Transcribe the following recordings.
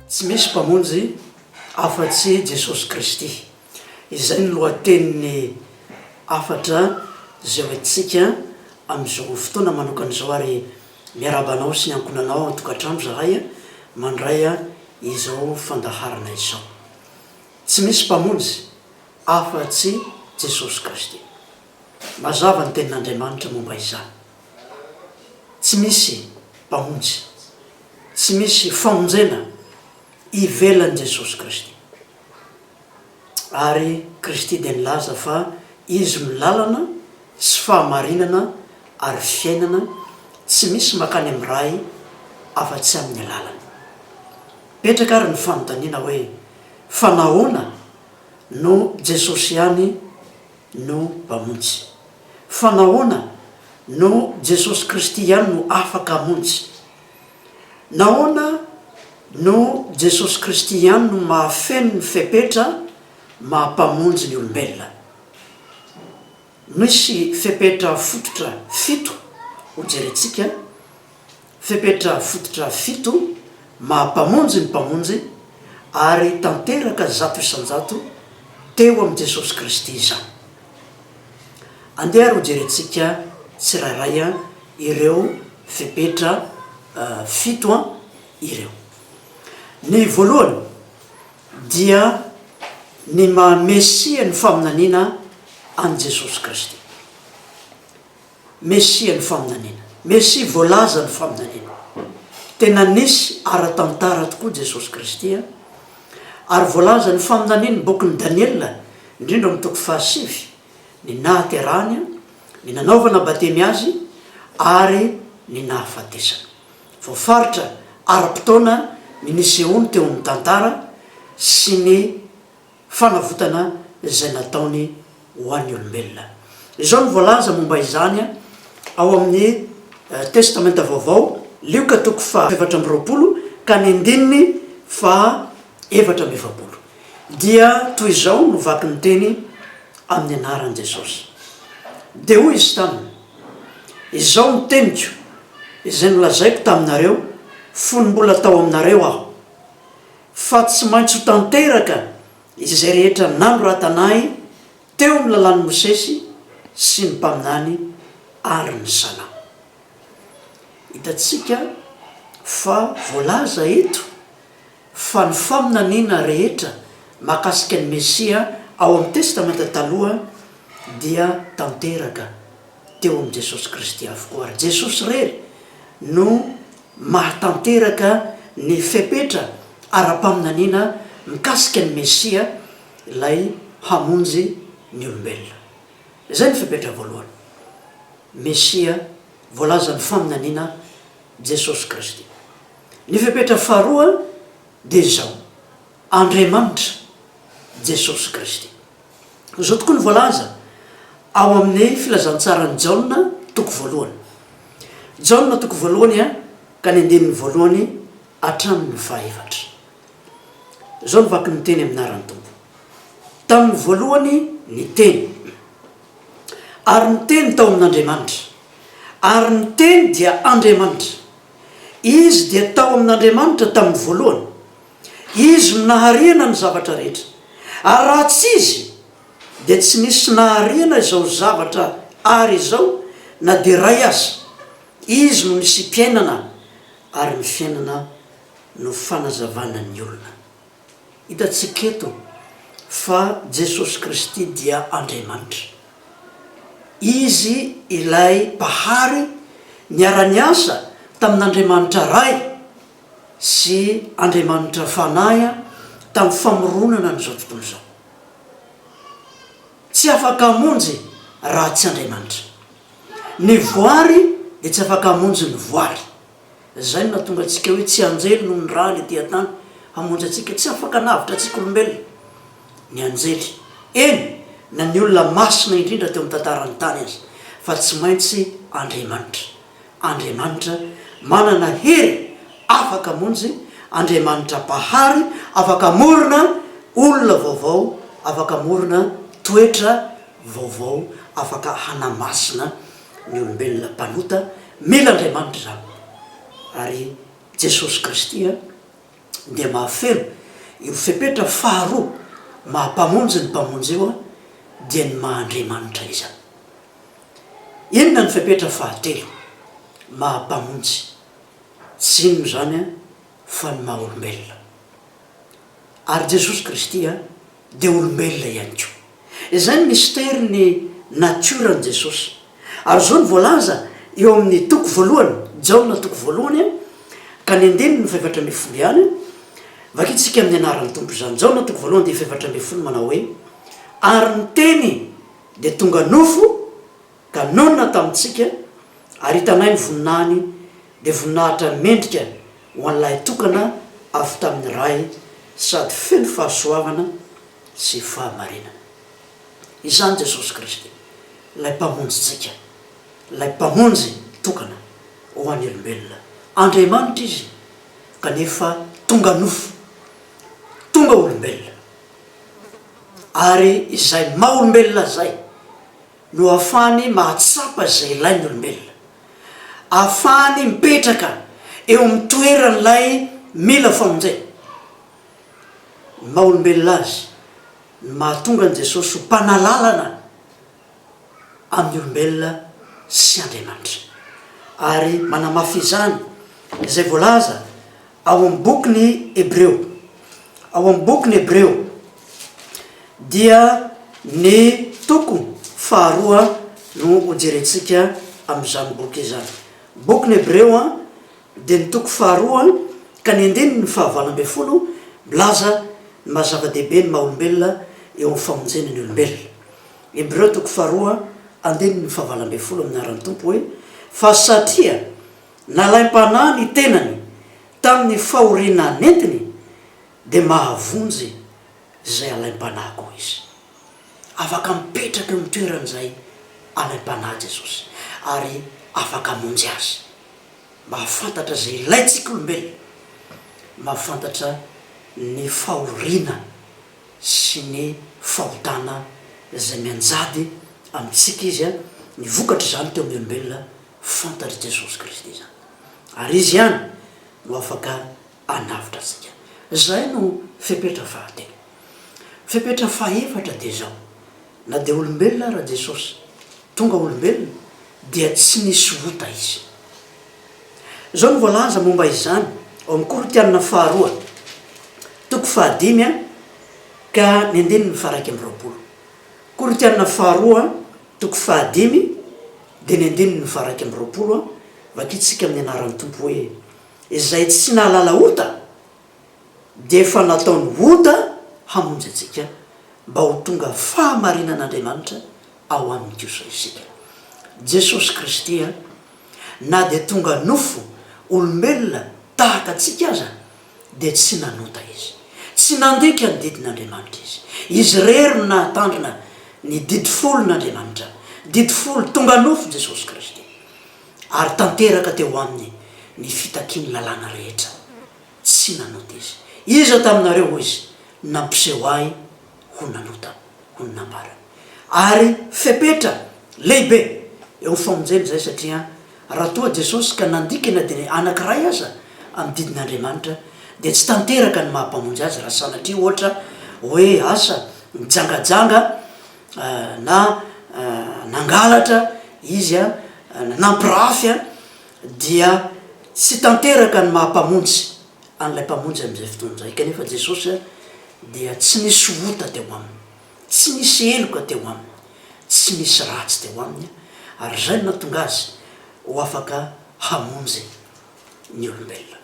Tsy misy Mpamonjy afa-tsy i Jesosy Kristy. Izay no lohatenin'ny hafatra izay ho entintsika amin'izao fotoana manokana izao ary miarahaba anao sy ny ankohonanao ao an-tokantrano izahay mandray izao fandaharana izao. Tsy misy Mpamonjy. afa-tsy Jesosy Kristy. Mazava ny Tenin'Andriamanitra momba izany, Tsy misy Mpamonjy, tsy misy famonjena ivelan'i Jesosy Kristy. Ary Kristy dia nilaza fa Izy no lalana sy fahamarinana ary fiainana, tsy misy makany amin'ny Ray afa-tsy amin'ny alalany. Mipetraka ary ny fanontaniana hoe, Fa nahoana no Jesosy ihany no Mpamonjy. Fa nahoana no Jesosy Kristy ihany no afaka hamonjy? Nahoana no Jesosy Kristy ihany no mahafeno ny fepetra maha Mpamonjy ny olombelona? Misy fepetra fototra fito hojerentsika, fepetra fototra fito maha-Mpamonjy ny Mpamonjy ary tanteraka zato isan-jato teo amin'i Jesosy Kristy izany. Andeha ary hojerentsika tsirairay ireo fepetra fito ireo. Ny voalohany. dia ny maha Mesia ny faminaniana an'i Jesosy Kristy. Mesia ny faminaniana. Mesia voalaza ny faminaniana. Tena nisy ara-tantara tokoa Jesosy Kristy an! Ary voalaza ny faminanian'ny bokin'i Daniela, indrindra amin'ny toko fahasivy, ny nahaterahany, ny nanaovana batemy azy ary ny nahafatesany. Voafaritra ara-potoana ny nisehoany teo amin'ny tantara sy ny fanavotana izay nataony ho an'ny olombelona. Izao no voalaza momba izany ao amin'ny Testamenta Vaovao. Lioka toko faha efatra amby roapolo ka ny andininy faha efatra amby efapolo dia toy izao no vaky ny teny amin'ny anaran'i Jesosy, Dia hoy izy taminy, Izao no teniko, izay nolazaiko taminareo fony mbola tao aminareo aho, fa tsy maintsy ho tanteraka izay rehetra nanoratana ahy teo amin'ny lalàn'i Mosesy sy ny mpaminany ary ny Salamo. Hitantsika fa voalaza eto fa ny faminaniana rehetra mahakasika ny Mesia ao amin'ny Testamenta Taloha dia tanteraka teo amin'i Jesosy Kristy avokoa, ary Jesosy irery no mahatanteraka ny fepetra ara-paminaniana mikasika ny Mesia, ilay hamonjy ny olombelona. Izay no fepetra voalohany, Mesia voalazan'ny faminaniana, Jesosy Kristy. Ny fepetra faharoa dia izao, Andriamanitra, Jesosy Kristy. Izao tokoa no voalaza ao amin'ny Filazantsaran'i Jaona toko voalohany. Jaona toko voalohany a ka ny andininy voalohany hatramin'ny fahaefatra. Izao no vaky ny teny amin'aran'ny Tompo. Tamin'ny voalohany ny Teny, ary ny Teny tao amin'Andriamanitra, ary ny Teny dia Andriamanitra. Izy dia tao amin' Andriamanitra tamin' ny voalohany. Izy no naharihana ny zavatra rehetra, ary raha tsy Izy, dia tsy nisy naharihana izao zavatra àry izao na dia iray aza. Izy no nisiam-piainana, ary ny fiainana no fanazavana ny olona. Hitantsika eto fa Jesosy Kristy dia Andriamanitra. Izy ilay Mpahary niara-niasa tamin'Andriamanitra Ray sy Andriamanitra Fanahy tamin'ny famoronana an'izao tontolo izao. Tsy afaka hamonjy raha tsy Andriamanitra. Ny voary dia tsy afaka hamonjy ny voary. Izay no nahatonga antsika hoe tsy anjely no niraha ilay teha-tany hamonjy antsika. Tsy afaka navotra antsika olombelona ny anjely, eny na ny olona masina indrindra teo amin'ny tantaran'ny tany aza, fa tsy maintsy Andriamanitra. Andriamanitra manana hery afaka hamonjy, Andriamanitra Mpahary afaka hamorona olona vaovao, afaka hamorona toetra vaovao, afaka hanamasina ny olombelona mpanota mila Andriamanitra izany ary Jesosy Kristy dia mahafeno io fepetra faharoa maha Mpamonjy ny Mpamonjy io dia ny maha Andriamanitra izany. Inona ny fepetra fahatelo maha Mpamonjy? Tsy inona izany fa ny maha olombelona. Ary Jesosy Kristy dia olombelona ihany koa. Izay ny mistery ny natioran'i Jesosy. Ary izao no voalaza eo amin'ny toko voalohany, Jaona toko voalohany ka ny andininy fahefatra ambin'ny folo ihany, vakintsika amin'ny anaran'ny Tompo izany, Jaona toko voalohany dia fahefatra ambin'ny folo manao hoe, Ary ny Teny dia tonga nofo, Ka naona tamintsika, ary hitanay ny voninahiny, dia voninahitra mendrika ho an'ny Lahy tokana avy tamin'ny Ray, sady feno fahasoavana sy fahamarinana. Izany Jesosy Kristy, ilay Mpamonjintsika, ilay Mpamonjy tokana ho an'ny olombelona. Andriamanitra Izy, kanefa tonga nofo, tonga olombelona. Ary izay maha-olombelona izay. no ahafahany mahatsapa izay ilain'ny olombelona. Ahafahany mipetraka eo amin'ny toeran'ilay mila famonjena. Ny maha olombelona azy no mahatonga an'i Jesosy ho Mpanalalana amin'ny olombelona sy Andriamanitra. Ary manamafy izany izay voalaza. Ao amin'ny Boky ny Hebreo. Ao amin'ny Boky ny Hebreo dia ny toko faharoa no hojerentsika amin'izany boky izany. Boky ny Hebreo dia ny toko faharoa ka ny andininy fahavalo ambin'ny folo milaza ny maha zava-dehibe ny maha olombelona eo amin'ny famonjena ny olombelona. Hebreo toko faharoa andininy fahavalo ambin'ny folo amin'ny anaran'ny Tompo hoe, Fa satria Nalaim-panahy ny tenany tamin'ny fahoriana nentiny, dia mahavonjy izay alaim-panahy koa izy. Afaka mipetraka eo amin'ny toeran'izay alaim-panahy Jesosy, ary afaka hamonjy azy. Mahafantatra izay ilaintsika olombelona, mahafantatra ny fahoriana sy ny fahotana izay mianjady amintsika Izy, ny vokatr'izany teo amin'ny olombelona, Fantatr'i Jesosy Kristy izany, ary Izy ihany no afaka hanavotra antsika. Izay no fepetra fahatelo. Fepetra fahefatra dia izao, Na dia olombelona ara Jesosy, tonga olombelona, dia tsy nisy ota Izy. Izao no voalaza momba izany ao amin'ny Korintiana faharoa, toko fahadimy, ka ny andininy faha iraika amby roapolo, Korintiana Faharoa, toko fahadimy, dia ny andininy faha-iraika amby roapolo, Vakitsika amin'ny anaran'ny Tompo hoe, Izay tsy nahalala ota, dia efa nataony ota hamonjy antsika, mba ho tonga fahamarinan'Andriamanitra ao aminy kosa isika. Jesosy Kristy, na dia tonga nofo olombelona tahaka antsika aza, dia tsy nanota izy. Tsy nandika ny didin'Andriamanitra izy. Izy irery no nahatandrina ny didy folon'Andriamanitra, didy folo tonga nofo Jesosy Kristy, ary tanteraka teo Aminy ny fitakian'ny lalàna rehetra. Tsy nanota izy. Iza taminareo, hoy Izy, nampiseho Ahy? ho nanotany, hoy ny nambarany. Ary fepetra lehibe eo amin'ny famonjena izay satria raha toa Jesosy ka nandika na dia ny anankiray aza amin'ny didin'Andriamanitra dia tsy tanteraka ny maha-Mpamonjy azy raha sanatria ohatra hoe asa nijangajanga na nangalatra izy an, nampirafy an, dia tsy tanteraka ny maha-Mpamonjy an'ilay Mpamonjy amin'izay fotoana izay. Kanefa Jesosy dia tsy nisy ota teo Aminy, tsy nisy heloka teo Aminy, tsy nisy ratsy teo Aminy, ary izay no nahatonga Azy ho afaka hamonjy ny olombelona.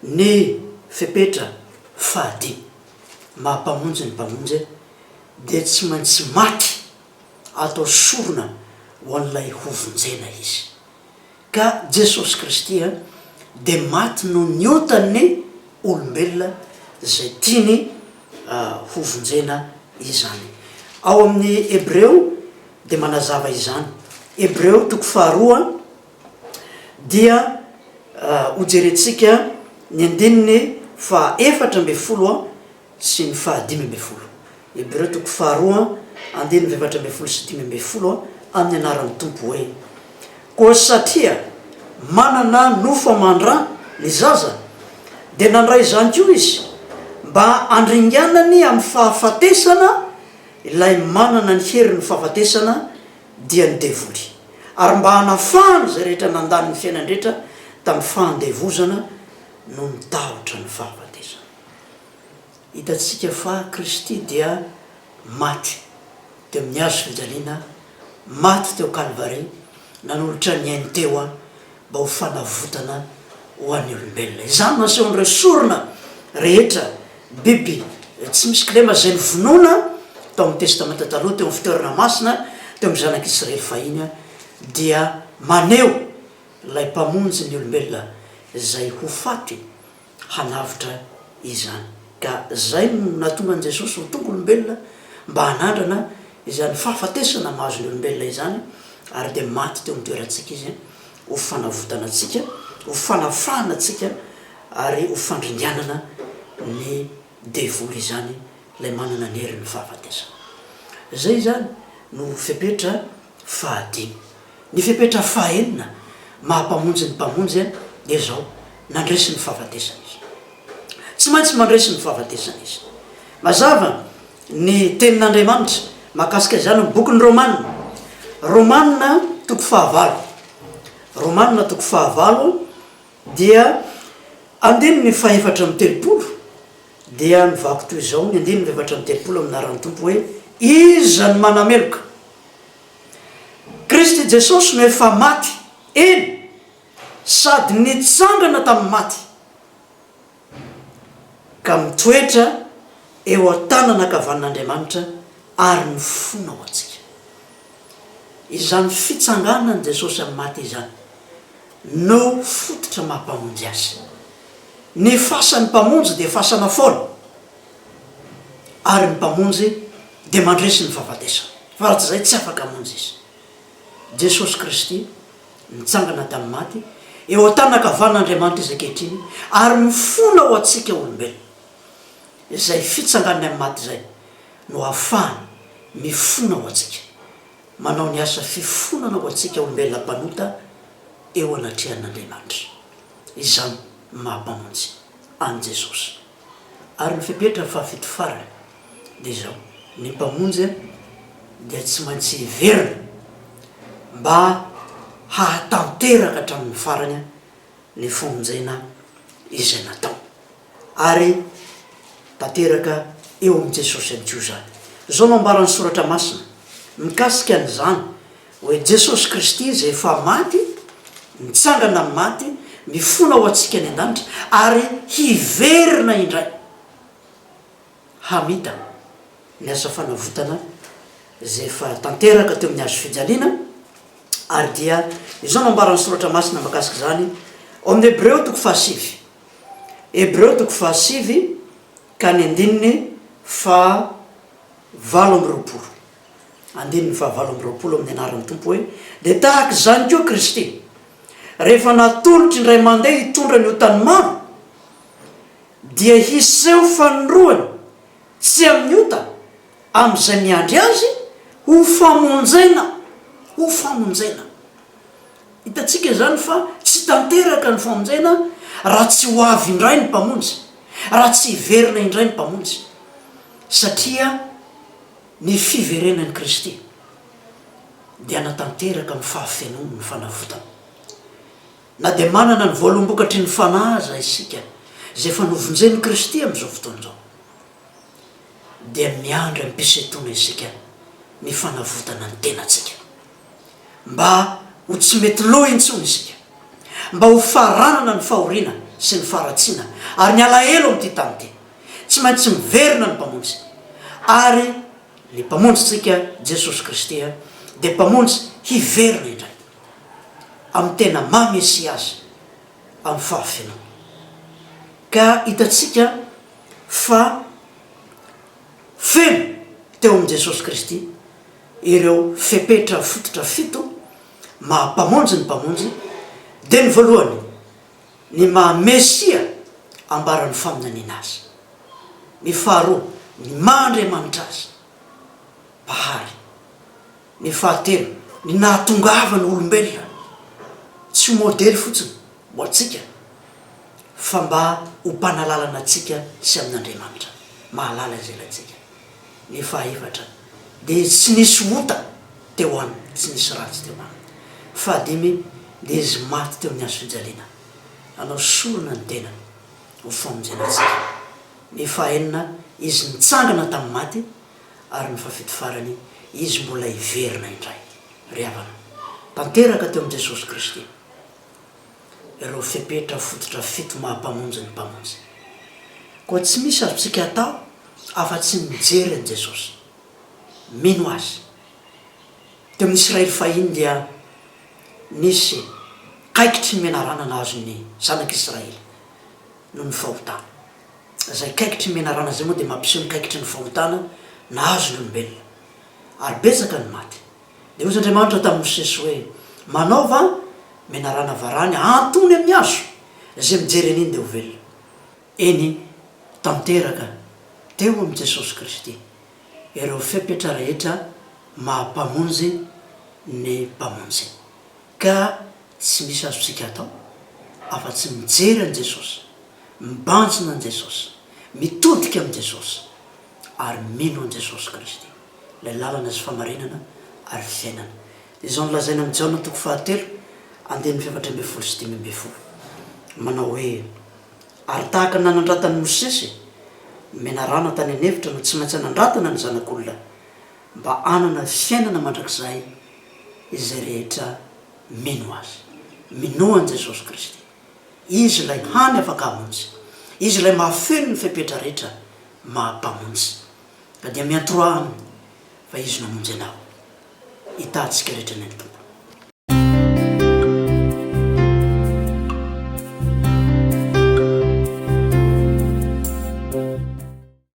Ny fepetra fahadimy maha-Mpamonjy ny Mpamonjy dia tsy maintsy maty atao sorona ho an'ilay hovonjena Izy. Ka Jesosy Kristy dia maty noho ny otan'ny olombelona izay tiany hovonjena izany. Ao amin'ny Hebreo dia manazava izany. Hebreo toko faharoa dia hojerentsika ny andininy fahaefatra ambin'ny folo. sy ny faha dimy ambin'ny folo. Hebreo toko faharoa andininy efatra ambin'ny folo sy dimy ambin'ny folo amin'ny anaran'ny Tompo hoe, Koa satria manana nofo aman-dra ny zaza, dia nandray izany koa izy, mba handringanany amin'ny fahafatesana ilay manana ny herin'ny fahafatesana, dia ny devoly, ary mba hanafahany izay rehetra nandany ny fiainany rehetra tamin'ny fandevozana noho ny tahotra ny fahafatesana. Hitantsika fa Kristy dia maty teo amin'ny hazo fijaliana, maty teo Kalvary, nanolotra ny ainy teo mba ho fanavotana ho an'ny olombelona. Izany no asehon'ireo sorona rehetra, biby tsy misy kilema izay novonoina tao amin'ny Testamenta Taloha teo amin'ny fitoerana masina, teo amin'ny Zanak'i Israely fahiny, dia maneho ilay Mpamonjy ny olombelona izay ho faty. hanavotra izany. Ka izay no nahatonga an'i Jesosy ho tonga olombelona mba hanandrana izany fahafatesana mahazo ny olombelona izany ary dia maty teo amin'ny toerantsika Izy ho fanavotana antsika, ho fanafahana antsika ary ho fandringanana ny devoly izany ilay manana ny herin'ny fahafatesana. Izay izany no fepetra Fahadimy. Ny fepetra fahenina maha Mpamonjy ny Mpamonjy an dia izao, Nandresy ny fahafatesana Izy. Tsy maintsy mandresy ny fahafatesana Izy. Mazava ny tenin' Andriamanitra mahakasika izany amin'ny bokin'ny Romana. Romana toko fahavalo. Romana toko fahavalo dia andininy fahefatra amby telopolo. Dia nivako toy izao ny andininy efatra amby telopolo amin'ny anaran'ny Tompo hoe, Iza no manameloka? Kristy Jesosy no efa maty, eny, sady nitsangana tamin'ny maty, ka mitoetra eo an-tanana an-kavanin'Andriamanitra ary mifona ho antsika. Izany fitsanganan'i Jesosy amin'ny maty izany no fototra maha-Mpamonjy azy. Ny fasan'ny Mpamonjy dia fasana foana, ary ny Mpamonjy dia mandresy ny fahafatesana, fa raha tsy izay tsy afaka hamonjy Izy. Jesosy Kristy nitsangana tamin'ny maty, eo an-tànan-kavanin'Andriamanitra Izy ankehitriny, ary mifona ho antsika olombelona. Izay fitsanganany amin'ny maty izay no ahafahany mifona ho antsika, manao ny asa fifonana ho antsika olombelona mpanota eo anatrehan'Andriamanitra. Izany no maha Mpamonjy an'i Jesosy. Ary ny fepetra fahafito farany dia izao, ny Mpamonjy dia tsy maintsy hiverina mba hahatanteraka hatramin'ny farany ny famonjena izay nataony. ary tanteraka eo amin'i Jesosy ihany koa izany. Izao no ambaran'ny Soratra Masina mikasika an'izany hoe, Jesosy Kristy izay efa maty, nitsangana amin'ny maty, mifona ho antsika any an-danitra, ary hiverina indray hamita ny asa fanavotana izay efa tanteraka teo amin'ny Hazo fijaliana, ary dia izao no ambaran'ny Soratra Masina mikasika izany ao amin'ny Hebreo toko fahasivy. Hebreo toko fahasivy ka ny andininy faha valo amby roapolo, andininy faha valo amby roapolo amin'ny anaran'ny Tompo hoe, dia tahaka izany koa Kristy, rehefa natolotry indray mandeha hitondra ny otan'ny maro, dia hiseho fanindroany tsy amin'ny ota amin'izay miandry Azy ho famonjena, ho famonjena. Hitantsika izany fa tsy tanteraka ny famonjena raha tsy ho avy indray ny Mpamonjy, raha tsy hiverina indray ny Mpamonjy, satria ny fiverenan'i Kristy dia hanatanteraka amin'ny fahafenoany ny fanavotana. Na dia manana ny voalom-bokatry ny Fanahy aza isika izay efa novonjen'i Kristy amin'izao fotoana izao, dia miandry amim-pisentoana isika ny fanavotana ny tenantsika. mba ho tsy mety lo intsony isika, mba ho faranana ny fahoriana sy ny faharatsiana ary ny alahelo amin'ity tany ity. Tsy maintsy miverina ny Mpamonjy. Ary ny Mpamonjintsika, Jesosy Kristy, dia Mpamonjy hiverina indray, amin'ny tena maha Mesia Azy, amin'ny fahafenoany. Ka hitantsika fa Feno teo amin'i Jesosy Kristy ireo fepetra fototra fito maha Mpamonjy ny Mpamonjy, dia ny voalohany, ny maha Mesia ambaran'ny faminaniana Azy, ny faharoa, ny maha Andriamanitra Azy, Mpahary. Ny fahatelo, ny nahatongavan'ny olombelona tsy ho modely fotsiny ho antsika fa mba ho mpanalalana antsika sy amin'Andriamanitra, mahalala izay ilaintsika. Ny fahaefatra, dia tsy nisy ota teo aminy, tsy nisy ratsy teo aminy. Fahadimy, dia izy maty teo amin'ny hazo fijaliana hanao sorona ny tenany ho famonjena antsika. Ny fahaenina, izy nitsangana tamin'ny maty ary ny fahafito farany izy mbola hiverina indray. Ry havana, tanteraka teo amin'i Jesosy Kristy ireo fepetra fototra fito maha-Mpamonjy ny Mpamonjy. Koa tsy misy azontsika atao afa-tsy ny mijery an'i Jesosy, mino Azy. Teo amin'ny Israely fahiny dia nisy kaikitry ny menarana nahazo ny Zanak'Israely noho ny fahotana. Izay kaikitry ny menarana izay moa dia mampiseho ny kaikitry ny fahotana nahazo ny olombelona. Ary betsaka ny maty. Dia hoy Andriamanitra tamin'i Mosesy hoe, Manaova menarana varahina antony amin'ny hazo, izay mijery an'iny dia ho velona. Eny, tanteraka teo amin'i Jesosy Kristy ireo fepetra rehetra maha-Mpamonjy ny Mpamonjy, ka Tsy misy azontsika atao afa-tsy mijery an'i Jesosy, mibanjina an'i Jesosy, mitodika amin'i Jesosy, ary mino an'i Jesosy Kristy, ilay lalana sy famarinana ary fiainana. Dia izao no lazaina amin'i Jaona toko fahatelo, andininy fahefatra ambin'ny folo sy dimy ambin'ny folo, manao hoe, Ary tahaka ny nanandratan'i Mosesy, ny menarana tany an-efitra no tsy maintsy hanandratana ny Zanak'olona, mba hanana fiainana mandrakizay izay rehetra Mino Azy. Minoa an'i Jesosy Kristy. Izy ilay hany afaka hamonjy. Izy ilay mahafeno ny fepetra rehetra maha Mpamonjy. Ka dia miantroa Aminy fa Izy no hamonjy anao. Hitaha antsika rehetra anie ny Tompo.